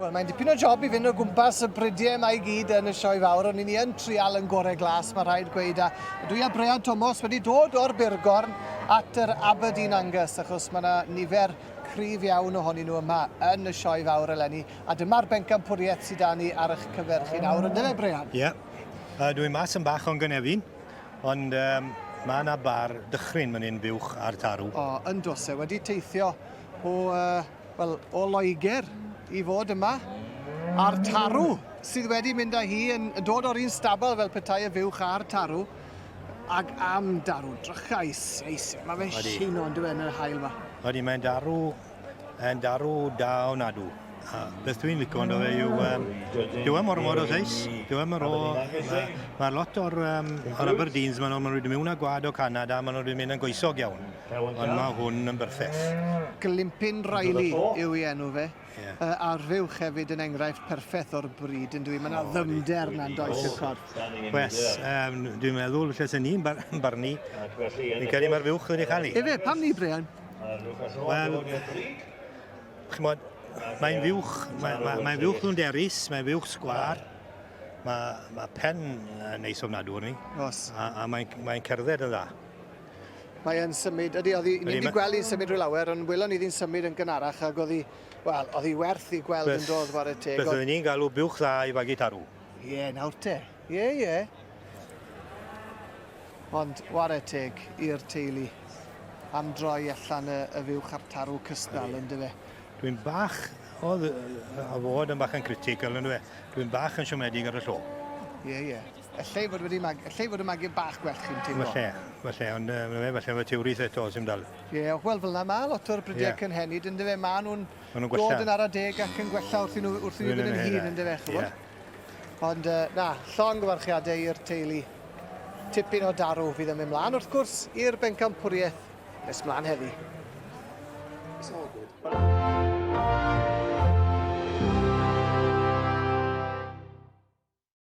Wel, mae'n dipyn o job i fynd o gwmpas y bridiau yma i gyd yn y sioe fawr, ond ni yn trial yn gorau glas, mae rhaid gweud. A dwi a Brean Tomos wedi dod o'r Burgorn at yr Aberdeen Angus, achos mae yna nifer cryf iawn ohonyn nhw yma yn y sioe fawr eleni. A dyma'r bencampwriaeth sydd â ni ar eich cyfer chi nawr, ynddo fe, Brean? Ie. Yeah. Uh, dwi'n mas yn bach o'n gynefin. Ond um, mae yna bar dychryn mynd yn fuwch ar tarw. O, yn dose, wedi teithio o, uh, well, o Loegr i fod yma ar tarw sydd wedi mynd â hi yn dod o'r un stabl fel petai y fuwch ar tarw ac am darw drychau seis. Mae fe'n siwno yn dweud yn yr hael yma. Wedi mae'n darw yn darw da onadw. A beth dwi'n licio ynddo fe yw, um, dyw e mor mor o seis, dyw e mor o... Mae ma lot o'r, um, o'r Aberdeens, maen nhw'n mynd mewn â gwad o Canada, maen nhw'n mynd yn goesog iawn, ond mae hwn yn berffeth. Glympyn Riley yw ei enw fe. Yeah. Uh, arfywch hefyd yn enghraifft perffeth o'r bryd yn dwi. Mae yna ddymder na'n does i'r corff. Wes, um, dwi'n meddwl, felly sy'n ni'n barnu, ni'n cael ei marfywch wedi chael ei. Efe, pam ni, Brian? Wel, chymod, mae'n fuwch, mae'n mae, mae fuwch nhw'n derus, mae'n fuwch sgwar, mae, mae pen yn neis ofnadw ni. Os. A, a mae'n mae cerdded yn dda. Mae'n symud, ydy, oedd ni'n wedi gweld i'n symud rhyw lawer, ond welon ni ddi'n symud yn gynharach ac oedd hi, wel, oedd hi werth i gweld yn dod, war y teg. Beth oedden ni'n galw buwch dda i fagu tarw. Ie, yeah, nawr te. Ie, yeah, ie. Yeah. Ond ware teg i'r teulu am droi allan y, y fyw chartarw cystal yn dyfe. Dwi'n bach, o, a fod yn bach yn critical yn dyfe, dwi'n bach yn siomedig ar y llo. Ie, yeah, ie. Yeah. Ellai fod wedi mag, ellai fod y magu bach gwell chi'n teimlo. Falle, falle, ond uh, falle fod teurith eto sy'n dal. Ie, yeah, wel fel yna mae lot o'r brydiau yeah. cynhenid yn dyfe, mae nhw'n Maen nhw'n gwella. Dod yn ara deg ac yn gwella wrth i nhw, wrth i nhw fynd yn hyn, yn dyfe, chybod? Yeah. Ond, uh, na, llon gyfarchiadau i'r teulu. Tipyn o darw fydd yn mynd mlaen, wrth gwrs, i'r bencampwriaeth nes mlaen heddi. It's all good.